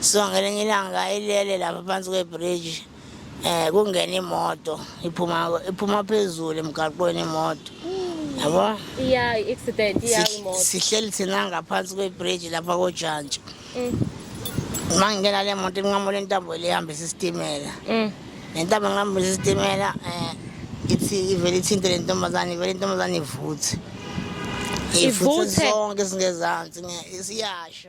so ngelinye ilanga ilele lapha phansi kwebridge um kungena imoto iphuma iphuma phezulu emgaqweni imoto yabo iya i-accident iya imoto sihleli thina ngaphansi kwebridge lapha kojantshi mm. uma ngingena le moto inqamula intambo elihambisa isitimela mm. le ntambo ngihambisa isitimela um ithi ivele ithinte le ntombazane ivele intombazane ivuthe ivuthe zonke singezansi siyasho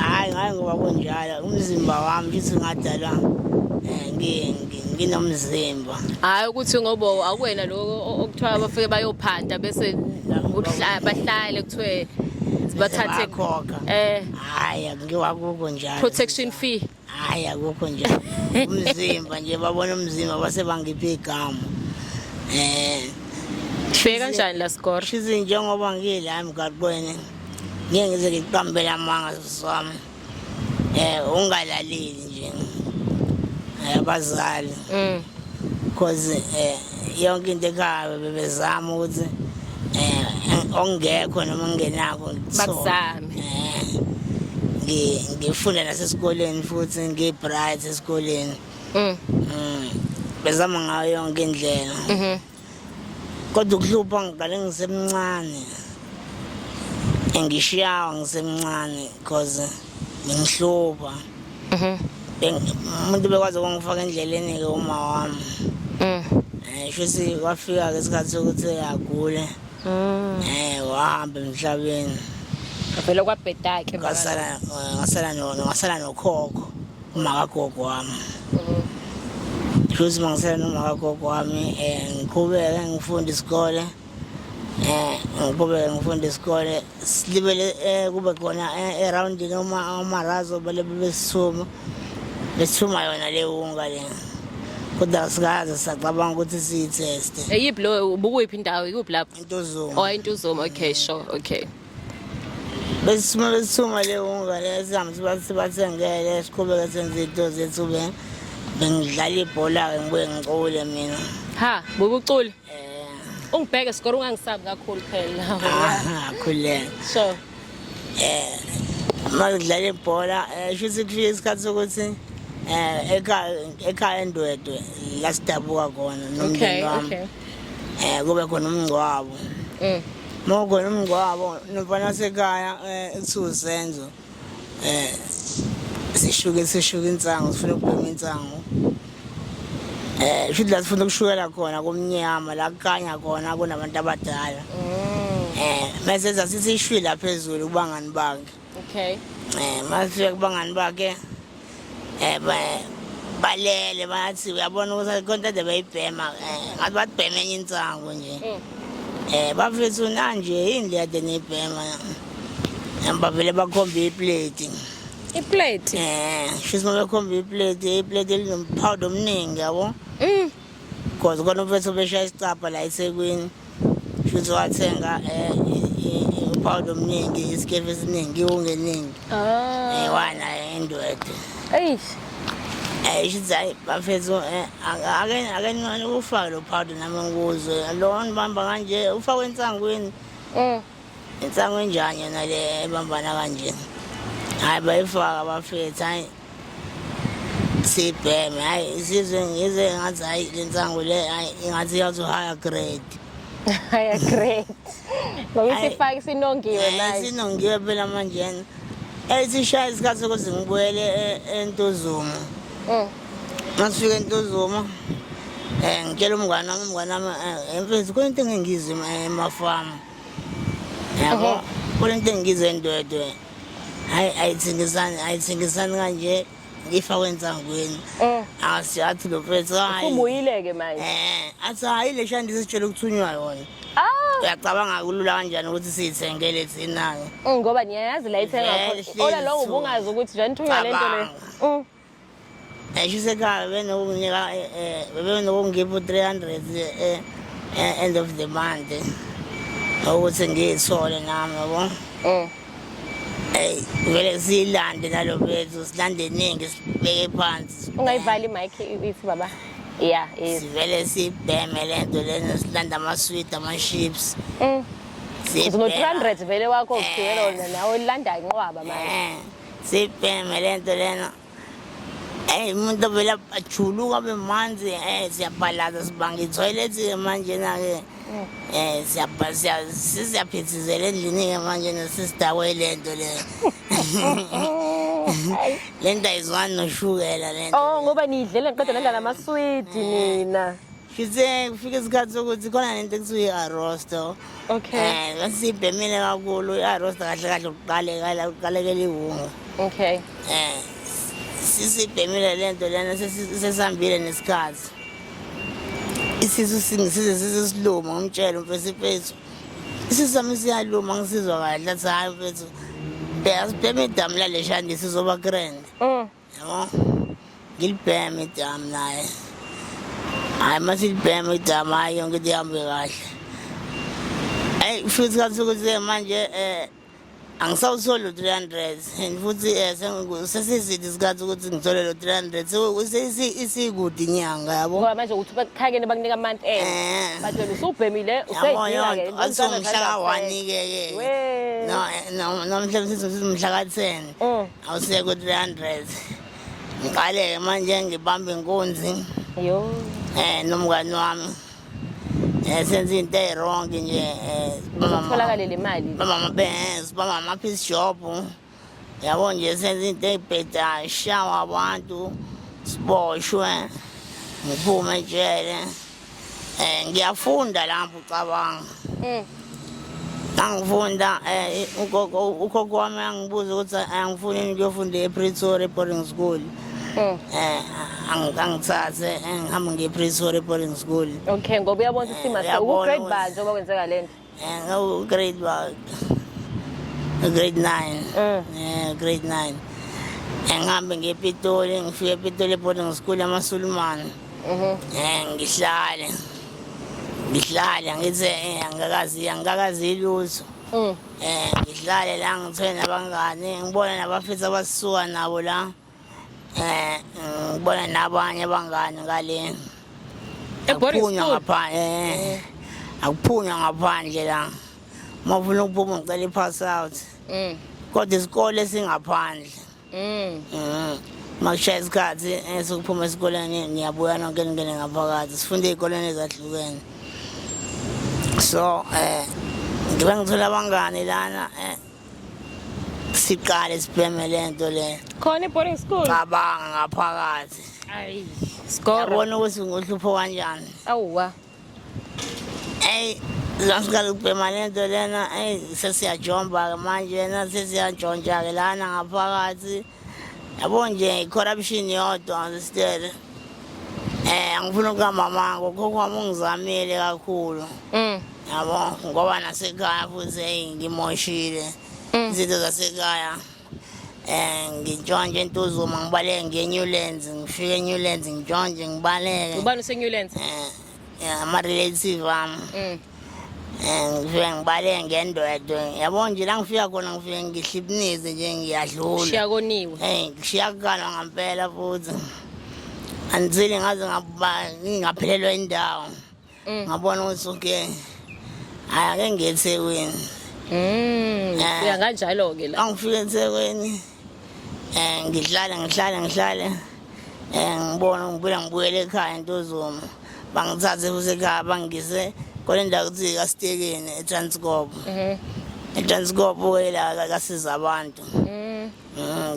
Hhayi ngaye ngoba kunjalo umzimba wami futhi ngadalwa eh, nginomzimba. Hhayi ukuthi ngoba akuwena lo okuthiwa abafike bayophanta bese bahlale kuthiwe bathathe khokha. Eh. Hhayi ngiwakuko njalo. Protection fee. hayi akukho nje umzimba nje babona umzimba base bangipha igama eh fika kanjani la score shizi njengoba ngila emgaqweni ngeke ngize ngiqambele amanga sami eh ungalaleli nje abazali mm because eh yonke into ekhaya bebezama ukuthi eh ongekho noma ungenako ngithole ngifunda nasesikoleni futhi ngiyi-bright esikoleni mm. mm. bezama ngayo yonke indlela mm-hmm. kodwa ukuhlupha ngiqale ngisemncane engishiyawa ngisemncane because bengihlupha mm-hmm. umuntu bekwazi ukungifaka endleleni-ke uma wami um mm. eh, shuthi kwafika-ke isikhathi sokuthi agule Mm. Eh wahamba emhlabeni. Vele kwabhedake ngasala ngasala no ngasala nokhokho umakagogo wami. Futhi mangisela nomakagogo wami eh ngiqhubeke ngifunda isikole. Eh ngiqhubeke ngifunda isikole silibele eh, kube khona eh, erawundini omarazo bele besisuma besisuma yona le wunga le kodwa asikaze sacabanga ukuthi siyitheste eyiphi eh, lo ubukuyiphi indawo ikuphi lapho intuzuma oh intuzuma okay sure okay besisuma besisuma le wunga le sihambe sibathengele siqhubeke senze into zethu bengidlala ibhola-ke ngibuye ngicule mina ha bukucula ungibheke sikoro ungangisabi kakhulu phela Aha, khuleka so uma udlala ibhola eh, shuthi kufika isikhathi sokuthi eh, ekhaya ekhaya endwedwe la sidabuka khona okay nomndeni wami okay eh kube khona umngcwabo mm. uma kukhona umngcwabo nomfana wasekhaya eh, ekuthiwa usenzo eh sishuke sishuke insangu sifuna ukubhema insangu eh shuthi la sifuna ukushukela khona kumnyama la kukanya khona kunabantu abadala mm. eh mase zasisishwila phezulu kubangani bakhe okay eh mase kubangani bakhe eh, balele bathi uyabona ukuthi akho nto ade beyibhema eh, ngathi bathi bhema enye insangu nje um mm. eh, bafethu nanje yini le ade niyibhema bavele bakhombe ipleti ipleti um shisi uma bekhombe ipleti ipleti elinomphawu omningi yabo um mm. because khona umfethu obeshaya isicabha la ethekwini Futhi wathenga eh upawudo omningi, isikefu esiningi, iwunga eningi. Ah. Eh wana endwede. Eish. Eh shithi hayi bafethu eh ake ake nani ukufaka lo powder nami ngikuzwe. Lo nibamba kanje ufakwe insangweni. Eh. Insangu enjani yona le ebambana kanje? Hayi bayifaka bafethu hayi. sibheme hayi isizwe ngizwe ngathi hayi le nsangu le hayi ingathi iyazohaya grade haya great ngoba isifake sinongiwe manje sinongiwe phela manje yena eyisishaya isikhathi sokuthi ngibuyele e-, entuzuma mm. masifika entuzuma eh ngitshela umngane wami umngane wami eh, emfethu kunento engingizwe emafamu yabo mhm. kunento engingizwe ndwedwe hayi ayithengisani ayithengisani kanje ifakwe ensangweni eh. asi athi lo mfethu hayi ubuyile-ke manje eh athi hayi le shandi sesitshela ukuthunywa yona ah! uyacabanga kulula kanjani ukuthi siyithengele thina-ke mm, ngoba niyayazi la ithenga khona ola lowo ubungazi ukuthi nje nithunywa le nto leyo Eshisekhaya bebenokunginika eh, eh, bebenokungipha u-300 eh, eh, end of the month ukuthi ngiyithole nami yabo Eh. eyi vele siyilande nalo bethu silande eningi sibeke phansi sibheme. Ungayivali mic if baba. Yeah, is. sivele sibheme le nto lena silanda amaswidi ama-ships Mm. Uzono 300 vele wakho ugibela wona nawe landa inqwaba manje. Sibheme le nto lena eyi umuntu ovele ajuluka abe manzi um eh, siyabhalaza sibanga ithoyilethi-ke manjena-ke um eh, siyaphithizela endlini-ke manjena sisidakwe le nto le le nto ayizwani noshukela le nto oh ngoba niyidlela ngiqeda nendlala amaswidi nina Ngithe kufika isikhathi sokuthi khona nento ekuthiwa i-arosto Okay. um sibhemile kakhulu i-arosto kahle kahle ukuqalekela ukuqalekela iwunga Okay. um sisibhemile le nto lena sesi- sesihambile nesikhathi isisu singi- size size siluma ngimtshele umfesi mfethu isisu sami siyaluma ngisizwa kahle athi hhayi mfethu bheka sibheme idamu laleshandi sizoba grand Mm. Yabo, ngilibheme idamu naye. Hhayi uma silibheme idamu hhayi yonke into ihambe kahle. Eyi kusho ukuthi kathi ukuthi manje um angisawutholi u-three hundred and futhi um sesiside isikhathi ukuthi ngithole lo three hundred isikude inyanga yabo ngoba manje ukuthi bakuthakele bakunika amanti en eh. bathi wena usubhemile useyidinga-ke umhla ka-one-ke-ke nomhla msithi umhla ka-ten mm. Awusekho 300. Ngiqale manje ngibamba inkunzi. Yo. Eh nomngani wami. Eh senze into ewrong nje. Eh utholakale le mali. Baba mabes, baba ma piece shop. Yabo nje senze into ebheda shawa abantu. Siboshwe. Ngiphume ejele. Eh ngiyafunda lapho ucabanga. Eh. Angifunda eh ugogo ukhokho wami angibuza ukuthi angifuni eh, ngiyofunda ePretoria boarding school. Eh. eh angangithathe eh, ngihambe ngePretoria boarding school. Okay ngoba uyabona ukuthi eh, simase uku grade banje oba kwenzeka lento. Eh, no, grade 1. Grade 9. Mm. Eh, grade 9. Eh, ngihambe ngepitoli, ngifike epitoli boarding school yamasulumane. Mhm. Eh, ngihlale. Ngihlale ngithi eh, angikazi angikazi lutho. Mm. Eh, ngihlale la ngithole nabangane, ngibone nabafethu abasuka nabo la. eh ngibona nabanye abangani ngale akuphunywa ngaphandle eh akuphunywa ngaphandle la mawufuna ukuphuma ngicela i-pass out mm. kodwa isikole singaphandle mm. mm. makushaya isikhathi eh, sokuphuma esikoleni ngiyabuya nonke ningene ngaphakathi sifunde ey'koleni ezahlukene so um eh, ngibe ngithola abangani lana um siqale sibheme le nto le khona i-boarding school cabanga ngaphakathi ayi skoro yabona ukuthi ngohlupho kanjani awuwa eyi zangiqala ukubhema le nto lena eyi sesiyajomba-ke manje yena sesiyajontshake lana ngaphakathi yabo nje i-corruption yodwa ndisitele eh angifuna ukamama ngokhokho wami ungizamile kakhulu mm. yabo ngoba nasekhaya futhi eyi ngimoshile mm. izinto zasekhaya eh ngintshontshe entuzuma ngibaleke ngeNewlands ngifike eNewlands ngintshontshe ngibaleke ubani useNewlands eh ama-relative ami mm. um ngifike ngibaleke ngendwedwe yabo nje la ngifika khona ngifike ngihlibinize nje ngiyadlula shiya koniwe um ngishiya kukalwa ngampela futhi andisile ngaze ngingaphelelwa indawo mm. ngabona ukuthi okay hayi ake ngiye ethekwini um eh. uya kanjalo-ke la angifike ethekwini um ngihlale ngihlale ngihlale um ngibona ngiphila ngibuyele ekhaya entozuma bangithathe futhi ekhaya bangise kole ndawo kuthi kasitekeni etranskop mhm. etranskop wela kasiza abantu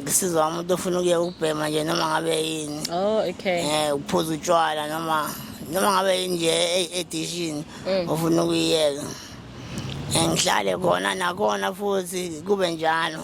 ngisizwa mhm. mm, umuntu ofuna ukuya ukubhema nje noma ngabe yini oh, um ukuphuza utshwala noma noma ngabe yini nje e-, edishini mm. ofuna ukuyiyeka ngihlale khona nakhona futhi kube njalo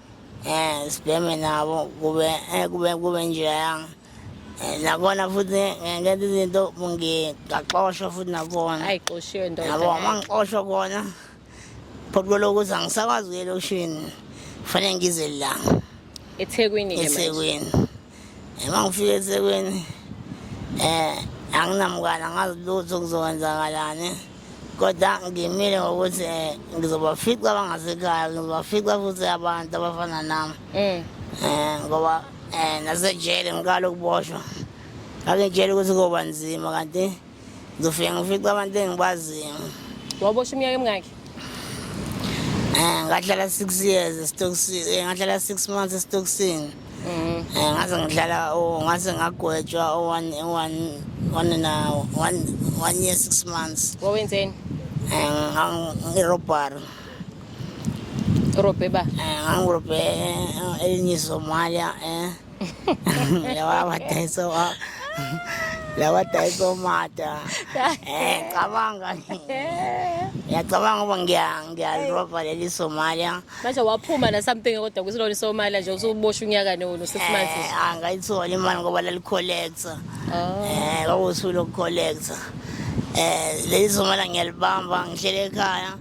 um sibheme nabo kube eh, kube kube njeyanga eh, nakona futhi ngenza izinto ngigaxoshwa futhi nakona ayixoshiwe ndoda yabo uma ngixoshwa kona phothi kwelokuthi angisakwazi ukuya elokishini kufanele ngize la ethekwini ethekwini Uma ngifika eThekwini eh anginamkwana ngazi lutho kuzokwenzakalani kodwa ngimile ngokuthi eh, ngizobafica abangasekhaya ngizobafica futhi abantu abafana nami um ngoba um nasejele ngiqala ukuboshwa ngakengitshela ukuthi koba nzima kanti ngizofike ngifica abantu engibaziyo wabosha iminyaka emingaki um ngahlala six years esitokisini eh, ngahlala six months esitokisini um mm. ngaze ngihlala oh, ngaze ngagwetshwa one one one na one one year six months wawenzeni um irobhari robhe ba um ngangirobhe elinye isomalia um Lawa matay so ah. Lawa tayo so mata. Eh, kabanga. Ngiyacabanga ukuba ngiya ngiyalova leli Somalia. manje waphuma na something kodwa kusilona isomalia nje usuboshwa unyaka nono six months Eh, angayithola imali ngoba lalicollector. oh Eh, kwakusuku lokucollector. Eh, leli Somalia ngiyalibamba ngihlele ekhaya.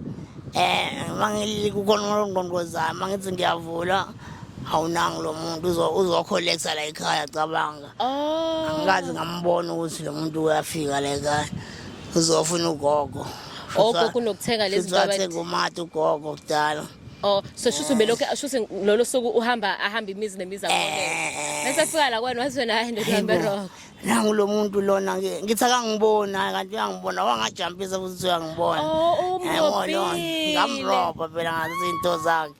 Eh, mangili kukhona umqondo zami mangithi ngiyavula awunangi lo muntu uzokholektha la ekhaya cabanga oh. angikazi ngambona ukuthi lo muntu uyafika la ekhaya uzofuna ugogo ogogo kunokuthenga lezi zinto athenga umati ugogo kudala Oh so shuthi ubelokhu shuthi lolo suku uhamba ahamba imizi nemizi akho. Eh. Bese fika la kwena wathi wena hayi ndoda hambe rock. Nangu lo muntu lona ke ngithi akangibona kanti uyangibona wangajampisa futhi uyangibona. Oh umnqobile. Ngamroba phela ngathi into zakhe.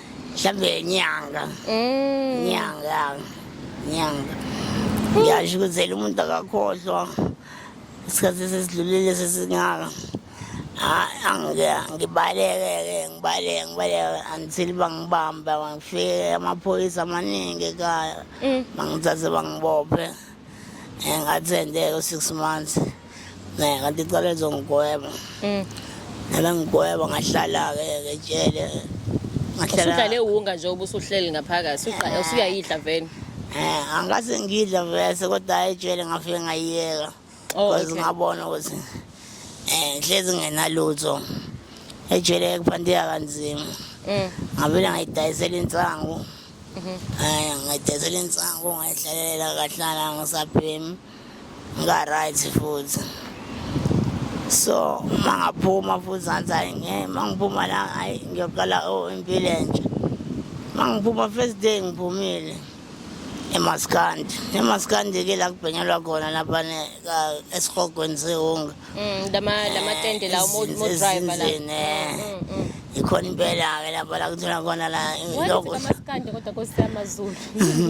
mhlawumbe nyanga mm. nyanga nyanga ngiyasho ukuzela umuntu akakhohlwa isikhathi sesidlulile sesingaka ngibaleke-ke ngibaleke ngibaleke until bangibamba bangifike amaphoyisa amaningi ekhaya mm. bangithathe bangibophe eh, ngathi endeke u-six months ne kanti icala lizongigweba mm. nabengigweba ngahlala-ke ke jele usuhlale wunga nje ubusuhleli ngaphakathi eh. usuyayidla veni um eh, angase ngidla vese kodwa hayi ejele ngafike ngayiyeka oh, bcause ngabona ukuthi um hlezi ngenalutho ejele kuphantiya kanzima mm. ngavele ngayidayisela insangu um mm-hmm. eh, ngayidayisela insangu ngayihlalela kahlala ngisabhemi ngika-right futhi so uma ngaphuma futhi ngathi hayi nge uma ngiphuma la hayi ngiyoqala o oh, impilo entsha uma ngiphuma first day ngiphumile emaskandi emaskandi-ke la kubhenyelwa khona lapha esihogweni sehunga Mm, lama lama Eh, tende lawo mo mo izinto driver la. ezinzini, eh. Mm, mm. ikhona impela-ke lapho la kuthola khona la Wayefika lokudla amaskandi kodwa Nkosi yamaZulu.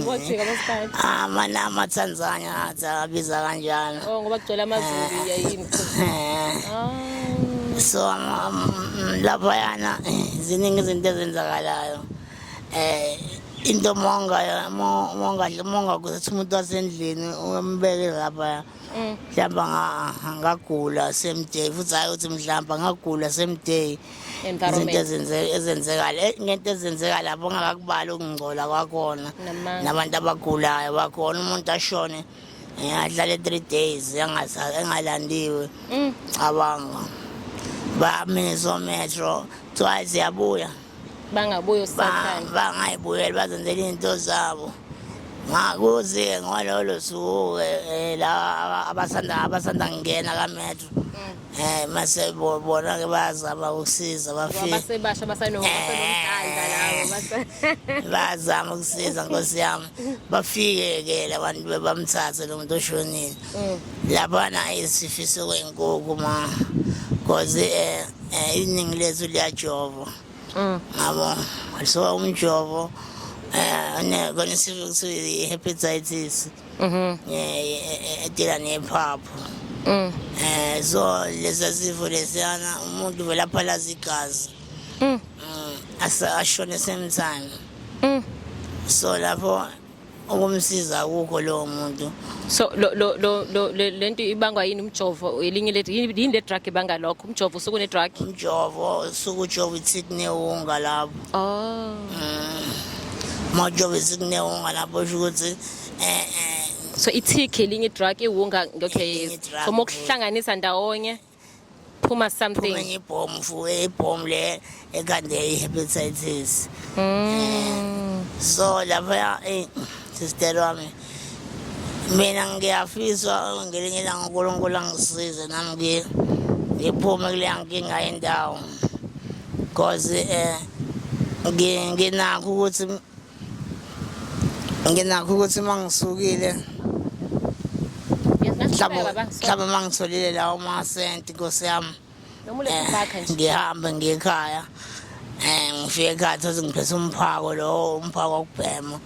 Wajika amaskandi. amanama atanzania athi abiza kanjalo Oh ngoba kugcwele amaZulu ya yini. Eh, Ah. so ama- mm, laphayana eh, ziningi izinto ezenzakalayo um into mongayo mongadle mongakuzathi umuntu wasendlini umbeke laphaya Mm. mhlawumbe anga- angagula same day futhi hhayi ukuthi mhlawumbe angagula same day izinto Environment. ezenze- ezenzekala Eh, ngento ezenzeka lapho ongakakubali ukungcola kwakhona Namanga. nabantu abagulayo bakhona umuntu ashone eh, ahlale three days engasa- engalandiwe Mm. cabanga bami so metro kuthiwa yabuya bangabuyi usathane bangayibuyeli bazenzela izinto zabo ngakuzi-ke ngololo suku-ke eh, la abasanda abasanda ngingena kametro um mm. eh, mase bona-ke bayazama ukusiza bafisebasha basanobayazama eh. ukusiza nkosi yami bafike-ke labantu bebamthathe lo muntu oshonile mm. laphana isifiso kwenkukhu ma because um Eh, iningi lethu liyajovo mm. ngabo so umjovo eh, kona isifo kuthiwa i-hepatitis mhm. eh, edila nephaphu mm. um so lesa sifo lesiyana umuntu vele aphalaza igazi mm. ashone same time so lapho ukumsiza akukho lowo muntu so lo lo lo lo le le nto ibangwa yini umjovo elinye le yini yini le drug ibanga lokho umjovo usuku ne drug umjovo usuke ujova ithi kunewunga lapho oh uma ujova ithi kunewunga lapho usho ukuthi eh eh so ithikhi elinye drug iwunga okay Elinye drug. so mokuhlanganisa ndawonye phuma something enye ibhomu fuke ibhomu le ekande i-hepatitis mm. so lapha eh, sister wami mina ngiyafisa ngelinye ilanga unkulunkulu angisize nami ngiphume kuleya nkinga yendawo because um nginakho ukuthi nginakho ukuthi uma ngisukile mhlawumbe uma ngitholile lawo masenti nkosi yami eh, ngihambe ngiye ekhaya um ngifike ekhaya thothi ngiphethe umphako lowo umphako wokubhema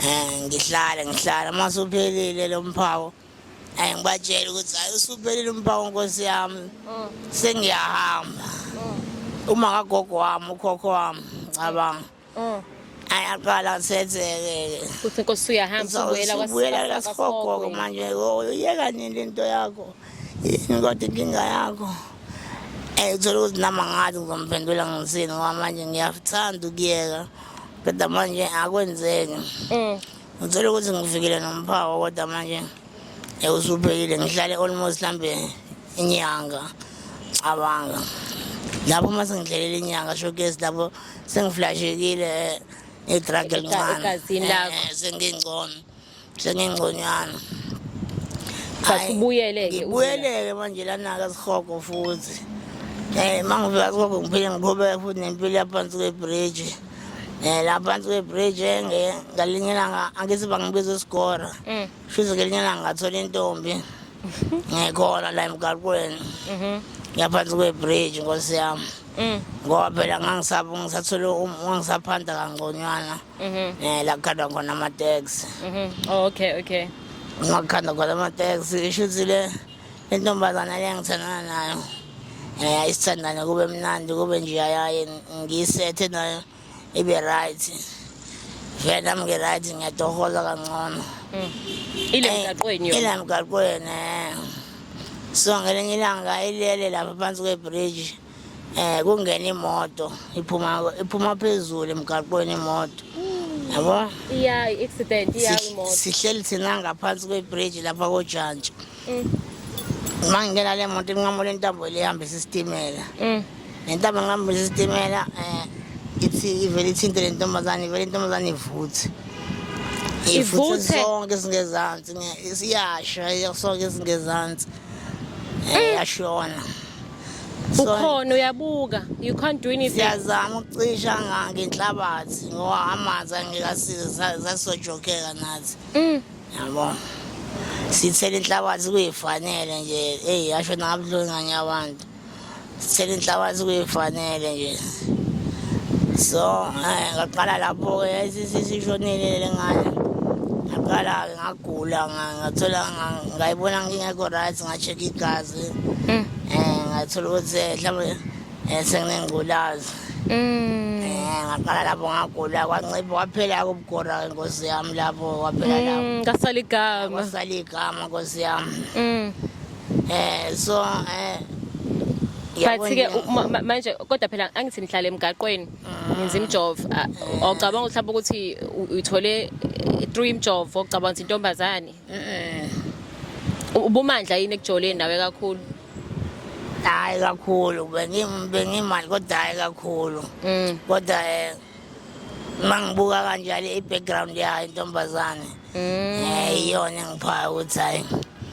um ngihlale ngihlale uma suphelile lo mphako um ngibatshele ukuthi hayi usuphelile umphako nkosi yami mm. sengiyahamba mm. uma kagogo wami ukhokho wami cabanga Oh. ayaqala kusenzeke Kuthi inkosi uyahamba uzobuyela ubuyela kwasifogogo manje yoyo yeka nini le nto yakho yini kodwa inkinga yakho um uthole ukuthi nama ngathi ngizomphendula ngisini ngoba manje ngiyathanda ukuyeka kodwa manje akwenzeki Mm. ngithole ukuthi ngifikile nomphawo kodwa manje Eh, usubhekile ngihlale almost hlambe inyanga cabanga lapho uma sengidlelela inyanga showcase lapho sengiflashekile ngedrag elincane eh, sengingcono sengingconywana sasibuyeleke ubuyeleke manje lanaka sihogo futhi um eh, uma ngivela sihogo ngiphinde ngiqhubeke futhi nempilo yaphansi kwebhriji Eh la phansi kwebridge nge ngalinye ilanga angithi bangibiza isikora. Mm. Shize ngelinye ilanga ngathola intombi. Ngikhona la emgaqweni. Mhm. Ngiyaphansi kwebridge nkosi yami. Mm. ngoba phela ngangisaba ngisathole um, ngangisaphanda kangconywana mhm. um la kukhandwa khona amateksi mhm. oh, okay okay ngakukhanda khona amateksi isho ukuthi le intombazana le engithandana nayo um isithandane kube mnandi kube nje ayaye ngiyisethe nayo ibe right vele nami ngi-right ngiyatohola kangcono mm. ile eh, mgaqweni ile mgaqweni um so ngelinye ilanga ilele lapha phansi kwebridge eh kungena imoto iphuma iphuma phezulu emgaqweni imoto yabo iya accident iya imoto sihleli thina ngaphansi kwebridge lapha kojantshi mm. uma ngingena le moto inqamule intambo le ihambisa isitimela mm. le ntambo ngihambisa isitimela um ithi ivele ithinte le ntombazane ivele intombazane ivuthe ivuthe sonke singezansi iyasha sonke singezansi eh, mm. yashona ukhona uyabuka you can't do anything siyazama ukucisha ngake inhlabathi ngoba amanzi angekasize sasojokeka nathi mm. yabo sithela inhlabathi kuyifanele nje eyi yasho nabuhlungu nganye abantu sithela inhlabathi kuyifanele nje so eh, ngaqala lapho-ke sishonile le ngane ngaqala-ke ngagula ngathola ngayibona ngingekho right nga-check igazi Mm. Eh ngathola ukuthi eh, mhlawumbe eh, senginengculazi. Mm. Eh ngaqala lapho ngagula kwancipha kwaphela ukugora inkosi yami lapho kwaphela mm, lapho. Ngasala igama. Ngasala igama inkosi yami. Mm. Eh so eh but-ke manje kodwa phela angithi nihlala emgaqweni ngenza imjovo ocabanga ukuthi mhlawumbe ukuthi uthole three imjovo ocabanga ukuthi intombazane ubumandla yini ekujoleni nawe kakhulu hayi kakhulu bengimali kodwa hayi kakhulu mm. kodwa um uma ngibuka kanjalo i-background yayo intombazane um mm. eh, iyona engiphaya ukuthi hhayi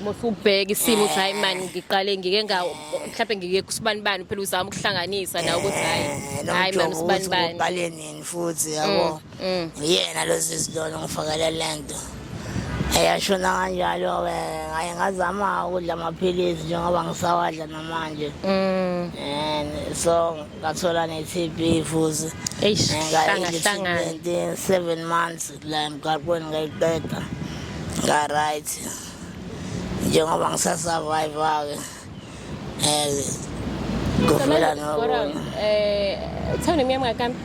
musubheka isimo ukuthi hayi mani ngiqale ngike nga mhlawumbe ngike kusibani bani phela uzama ukuhlanganisa nawe ukuthi hayi eh, hayi mani usibani bani uqale nini futhi yabo mm. Mm. Uyena lo sisi lona ongifakela le nto. Eyashona kanjalo-ke ngaye ngazama ukudla amaphilisi njengoba ngisawadla namanje. Mm. And so ngathola ne-TB futhi. Eish, Eh, hlanga, ngayidla hlangana. i-treatment, seven months la emgaqweni ngayiqeda. Nga-right. Njengoba ngisasurvive-ke. Eh, kufela nokunye. Eh, uthanda imiyama ngakambi?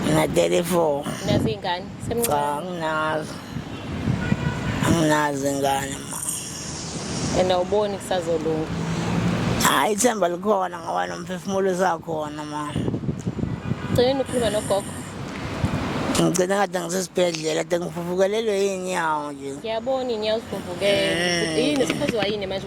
Ngina-34. Nazi ingane? Cha, anginazo. Anginazo ingane ma. And awuboni kusazolunga? Hayi ithemba likhona ngoba nomphefumulo usakhona ma. Gcina ukhuluma nogogo. ngigcina kade ngisesibhedlela kade ngivuvukelelwe yinyawo nje ngiyabona inyawo zivuvukele yini sikhoziwa yini manje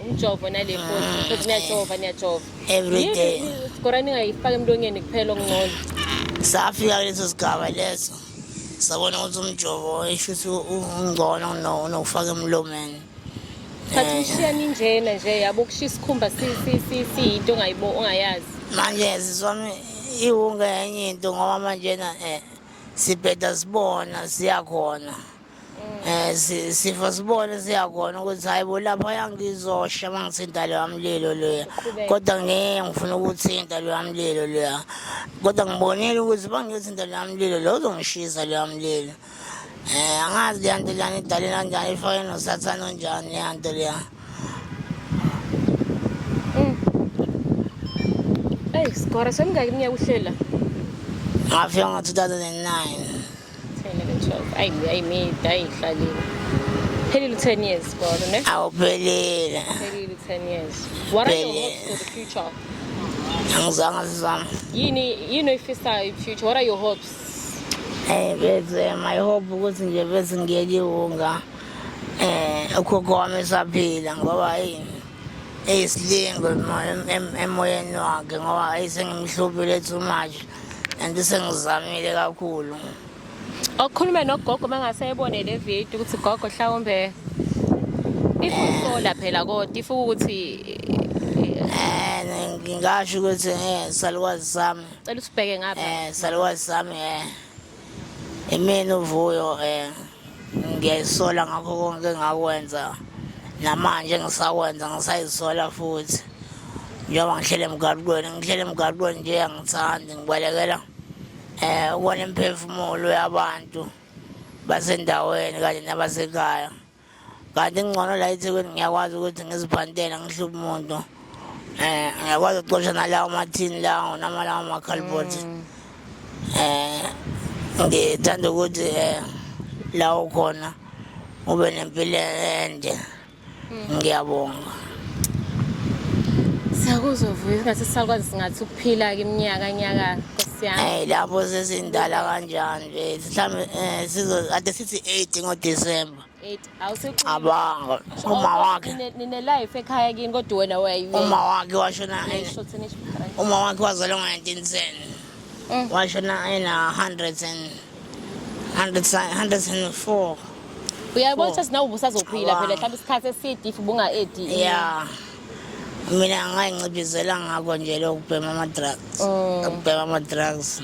umjovo nale mposi ah, futhi niyajova niyajova everyday sikora ningayifaka emlonyeni kuphela okungcono safika kuleso sigaba leso sabona ukuthi umjovo isho ukuthi ungcono kunokufaka emlomeni thatha umshiyani njena nje yabo ukushiya isikhumba siyinto ongayibo ongayazi manje siswami iwunga enye into ngoba manjena um eh, sibheda sibona siyakhona Eh si- sifa sibone siyakona ukuthi hayi bo lapha yangizosha mangithinta loya mlilo loya kodwa ngeke ngifuna ukuthinta loya mlilo loya kodwa ngibonile ukuthi bangithinta loya mlilo lo uzongishisa loya mlilo eh angazi leya nto leyana idale kanjani ifake nosathane onjani leya nto leya eyi sigora semingaki iminyaka uhlela ngafika ngo-2009 Phelile 10 years kodwa ne? Awuphelile. Phelile 10 years. What are your hopes for the future? Ngizange sizame. Yini yini oyifisayo in future? What are your hopes? Eh bese my hope ukuthi nje bese ngiyeliwunga eh ukhokho wami saphila ngoba yini eyisilingo emoyeni wakhe ngoba ayisengimhluphi lethu manje and sengizamile kakhulu okukhulume nogogo uma ngase ebone le video ukuthi gogo hlawumbe if usola phela kodwa if ukuthi eh, ngingasho ukuthi eh, salukazi sami cela usibheke ngapha eh, salukazi sami um Imina uvuyo um ngiyayisola ngakho konke engakwenza namanje ngisakwenza ngisayisola futhi njengoba ngihlele emgaqweni ngihlele emgaqweni nje angithandi ngibalekela um ukona imiphefumulo yabantu basendaweni kanye nabasekhaya kanti ngcono la ethekwini ngiyakwazi ukuthi ngizibhantele ngihluphe umuntu um ngiyakwazi ukucosha nalawo mathini lawo nama lawo makhalibhothi um mm. eh, ngithanda ukuthi um eh, lawo khona ube nempilo ende mm. ngiyabonga Siyakuzwa vuyo ngathi sisakwazi singathi ukuphila ke iminyaka nyaka siyami. Eh lapho sesindala kanjani nje mhlambe eh sizo ade sithi 8 ngo December. 8 awuseqhubeki. Abanga uma wakhe. Nine life ekhaya kini kodwa wena wayi. Uma wakhe washona. Uma wakhe wazalwa ngo 1910. Mm. Washona ena 100 and 104 uyayibona ukuthi sinawe ubusazophila phela mhlawumbe isikhathi eside if ubunga-edi ya mina angayincibizela ngako nje lokubhema ama-drugs mm. ukubhema ama-drugs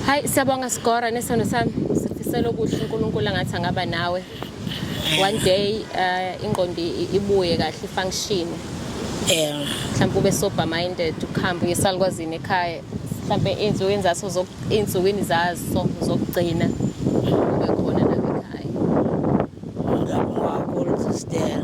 hayi siyabonga sigora nesono sami sifisela okuhle unkulunkulu angathi angaba nawe one day uh, ingqondo ibuye kahle ifunction yeah mhlawumbe ube sober minded ukuhamba uyesalukwazini ekhaya mhlawumbe insuku enzaso insukwini zaso zokugcina ube khona lapha ekhaya ngakho ngakho sister